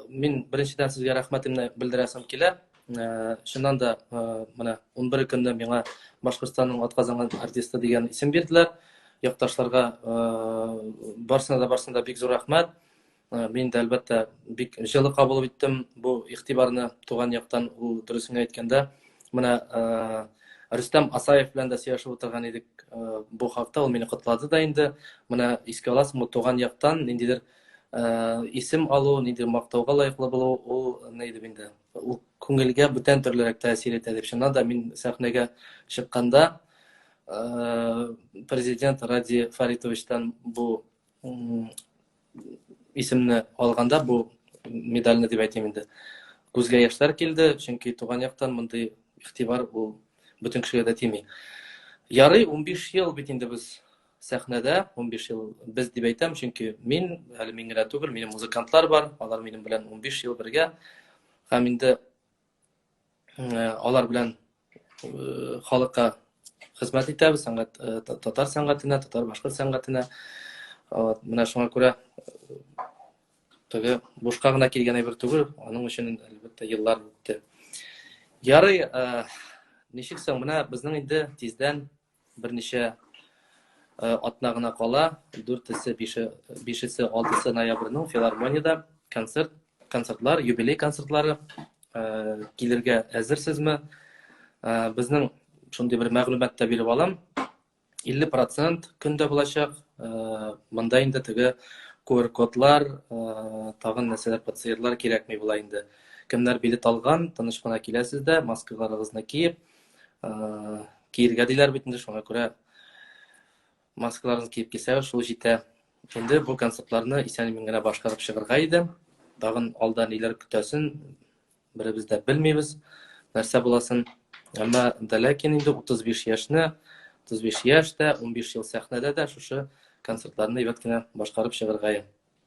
мин беренчедән сезгә рәхмәтемне белдерәсем килә э, чыннан да э, менә унбер көнне миңа башкортстанның атказанган артисты дигән исем бирделәр якташларга э, барсына да барсына да бик зур рәхмәт мин дә әлбәттә бик җылы кабул иттем бу игътибарны туган яктан ул дөресен әйткәндә менә рөстәм асаев белән дә сөйләшеп утырган идек бу хакта ул мине котлады да инде менә искә аласыңмы туган яктан ниндидер Э, исем алу нидер мактауга лаеклы булу ул нидер инде ул күңелгә бүтән төрлерәк тәэсир итә дип чыннан да мин сәхнәгә чыкканда э, президент ради фаритовичтан бу исемне алганда бу медальны дип әйтим инде күзгә яшьләр килде чөнки туган яктан мондый игътибар ул бөтен кешегә дә тими ярый унбиш ел бит инде без сәхнәдә унбиш ел без дип әйтәм чөнки мин әле мин генә түгел минем музыкантлар бар алар минем белән унбиш ел бергә һәм инде алар белән халыкка хезмәт итәбез сәнгать татар сәнгатенә татар башкорт сәнгатенә менә шуңа күрә теге бушка гына килгән әйбер түгел аның өчен әлбәттә еллар үтте ярый ничек соң менә безнең инде тиздән Берничә э, атна гына кала, дүртесе, бише, бишесе, алтысы ноябрьнең филармониядә концерт, концертлар, юбилей концертлары э, килергә әзерсезме? Э, безнең шундый бер мәгълүмат та биреп алам. 50 процент көндә булачак. Э, монда инде теге QR-кодлар, э, тагын нәрсәләр, пациентлар кирәкми була инде. Кемнәр билет алган, тыныч кына киләсез дә, маскаларыгызны киеп, киергә диләр бит инде шуңа күрә маскаларны киеп килсә шул җитә инде бу концертларны исән имин генә башкарып чыгарга иде тагын алда ниләр көтәсен беребез дә белмибез нәрсә буласын әмма дә ләкин инде утыз биш яшьне утыз биш яшь тә унбиш ел сәхнәдә дә шушы концертларны әйбәт кенә башкарып чыгарга